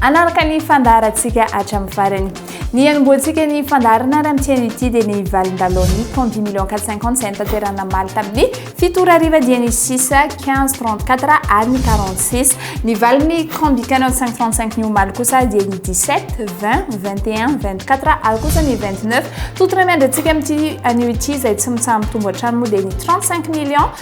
Hanaraka ny fandaharantsika hatramin'ny farany. Ny hanombohantsika ny fandaharana raha mitỳ an'ity dia ny valin-dalaon'ny Ton dix millions quatre cent cinquante izay notanterahina omaly tamin'ny fito ora hariva dia ny six quinze trente quatre ary ny quarante six. Ny valin'ny Combi Canon cinq trente cinq ny omaly kosa dia ny dix sept, vingt, vingt et un, vingt quatre ary kosa ny vingt neuf. Tontona miandry antsika amin'ity anio ity izay tsy mitsaha-mitombo hatrany moa dia ny trente cinq millions.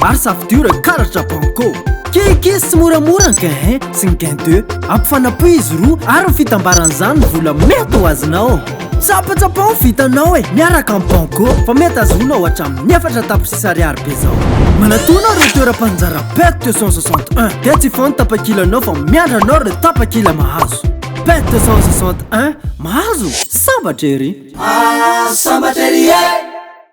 Maro safidio reo karatra banco Keke sy moramora ny gain sy ny gain deux Ampifanapohy izy roa ary ny fitambaran'izany ny vola mety ho azonao Tsapatsapao ny vitanao e miaraka amin'ny banco Fa mety azonao hatramin'ny efatra tapitrisa ariary be zao Manatona reo toeram-panjara pet deux cent soixante un Dia tsy hifoha ny tapakilanao fa miandry anao reo tapakila mahazo Pet deux cent soixante un mahazo sambatra ery Ah sambatra ery eh!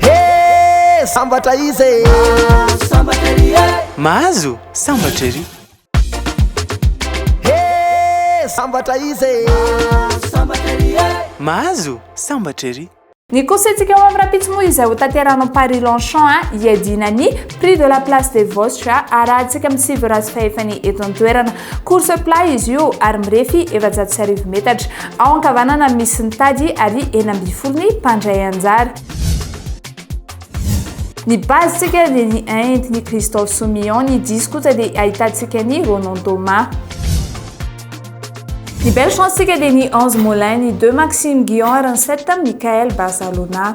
Hee sambatra izy e. Mahazo sambatra ery e. Mahazo sambatra ery. Hee sambatra izy e. Mahazo sambatra ery e. Mahazo sambatra ery. Ny coursentsika ao amin'ny rahampitso moa izay ho tanterahina ao Paris Longchamp a, hiadiana ny prix de la place des vosges a, arahantsika amin'ny sivy razy fahefany eto an-toerana. Course plat izy io ary mirefy efajato sy arivo metatra. Ao ankavanana misy ny tady ary enina ambin'ny folo ny mpandray anjara. Ny base tsika dia ny Inde, ny Christophe Soumillon, ny 10 kosa dia ahitantsika ny Ronan Thomas. Ny belle chance tsika dia ny 11 Molin, ny 2 Maxime Guillon ary ny 7 Michael Barcelona.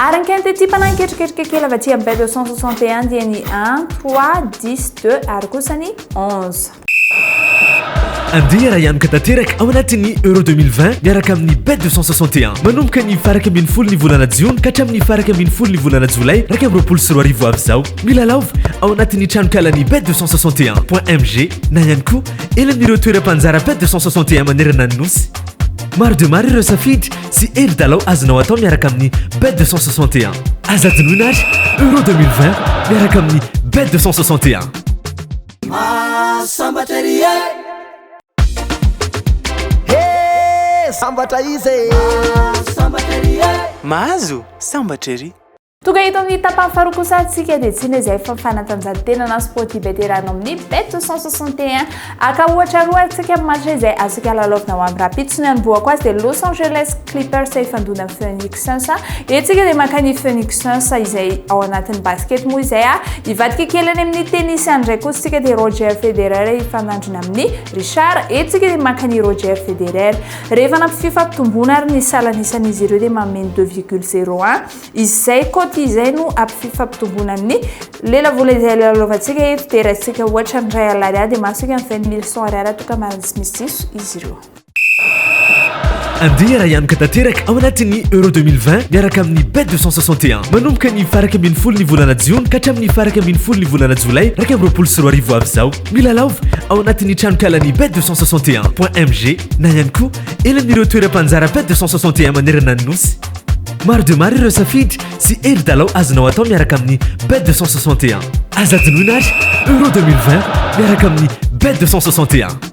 Ary ny quinte ity mpanahy ketriketrika kely avy aty amin'ny Bible 161 dia ny 1, 3, 10, 2 ary kosa ny 11. Andeha raha hianoka tanteraka ao anatin'ny Euro 2020 miaraka amin'ny Bet 261. Manomboka ny faraka ambin'ny folo ny volana Jiona ka hatramin'ny faraka ambin'ny folo ny volana Jolay iraika amby roapolo sy roa arivo avy izao. Milalaova ao anatin'ny tranonkalan'ny Bet 261.mg na ihany koa eny amin'ireo toeram-panjara Bet 261 manerana ny nosy. Maro dia maro ireo safidy Tsy hely dalao azonao atao miaraka amin'ny Bet 261. Aza adinoina ary Euro 2020 miaraka amin'ny Bet 261. Mahasambatra ery e! Hey! Sambatra izy e! Mahasambatra ery e! Mahazo sambatra ery! Tonga eto amin'ny tapany faharoa kosa antsika dia tsy inona izay fa fanatanjahantena na sport hibetera anao amin'ny bet 161 aka ohatra roa antsika amin'ny match izay azontsika alalaovina ho amin'ny rahampitso ny anombohako azy dia Los Angeles Clippers ifandona amin'ny Phoenix Suns etsika dia maka ny Phoenix Suns izay ao anatin'ny basket moa izay ah ivadika kely any amin'ny tennis any indray kosa tsika dia Roger Federer ifanandrina amin'ny Richard etsika dia maka ny Roger Federer rehefa nampifio fampitomboana ary ny salan'isan'izy ireo dia mameno 2,01 Izay côte izay no apififampitombona ny lelavola izay lalovantsika eto dia raisitsika ohatra ny ray alariary dia mahasoika ny vingt mille cent ariary atoka marina tsy misy diso izy ireo. Andeha rahanoka tanteraka ao anatin'ny Euro 2020 miaraka amin'ny Bet 261. Manomboka ny farak ambin'ny folo ny volana jiona ka hatramin'ny farak ambin'ny folo ny volana jolay iraika amby roapolo sy roa arivo avy izao. Milalaova ao anatin'ny tranonkalan'ny Bet 261. MG na ihany koa eny amin'ireo toeram-panjara Bet 261 manerana ny Nosy. Maro dia maro ireo safidy sy hevi-dalao azonao atao miaraka amin'ny Bet 261. Aza adinoina ary Euro 2020 miaraka amin'ny Bet 261.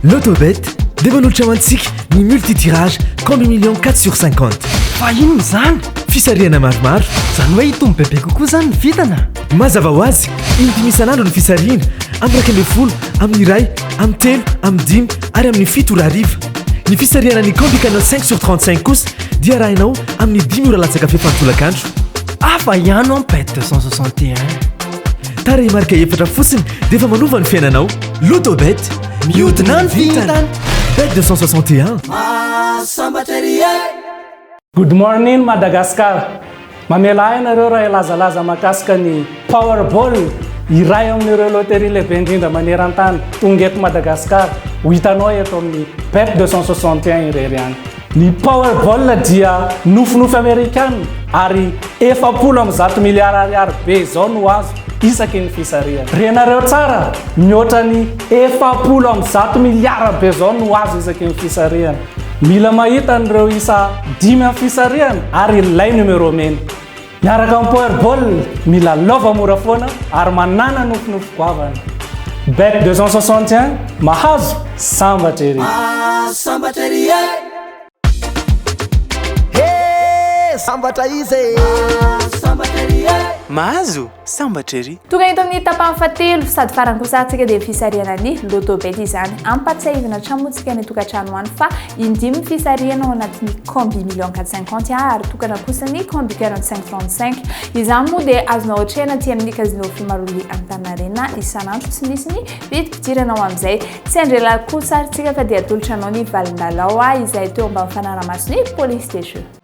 L'autobet dia manolotra ho antsika ny multitirage combi million 4 sur 50. Fa inona izany? Fisarihana maromaro. Izany hoe hitombo bebe kokoa izany ny vidina? Mazava ho azy, indimy isan'andro ny fisarihina, amin'ny iraika ambin'ny folo, amin'ny iray, amin'ny telo, amin'ny dimy ary amin'ny fito ora hariva. Ny fisarihana ny Candy Canal 5 sur 35 kosa dia arahinao amin'ny dimy ora latsaka fefy an-tolakandro. Hafa ihany ao Pet 261. Tarehimarika efatra fotsiny dia efa manova ny fiainanao. Lotobet, mihodina ny vintana! Bet 261. Mahasambatra ery e! Good morning Madagascar! Mamela ahy nareo raha hilazalaza mahakasika ny Powerball, iray amin'ireo loterie lehibe indrindra maneran-tany, tonga eto Madagasikara, ho hitanao eto amin'ny Bet 261 irery any. Ny Powerball dia nofinofy Amerikana ary efapolo amby zato miliara ariary be izao no azo isaky ny fisarihana. Renareo tsara, mihoatra ny efapolo amby zato miliara be izao no azo isaky ny fisarihana. Mila mahita an'ireo isa dimy amin'ny fisarihana ary ilay numéro mena. Miaraka amin'ny Powerball, mila lova mora foana ary manàna nofinofy goavana. Bet 261, mahazo, sambatra ery! Mahazo sambatra ery e! He! Sambatra iza e! Mahazo sambatra ery e! Mahazo? Sambatra ery! Tonga eto amin'ny tapany fahatelo sady farany kosa antsika dia fisarihana ny Lotto Bet izany. Ampatsiahivina hatrany moa tsika any an-tokantrano any fa indimy ny fisarihana ao anatin'ny combi million quatre cinquante a ary tokana kosa ny combi quarante cinq trente cinq. Izany moa dia azonao atrehina aty amin'ny Casino Fimaroli Antaninarenina isan'andro tsy misy ny vidim-pidirana ao amin'izay. Tsy andrialahy kosa ary tsika fa dia atolotra anao ny valin-dalao izay teo ambany fanaraha-mason'ny polisy des jeux.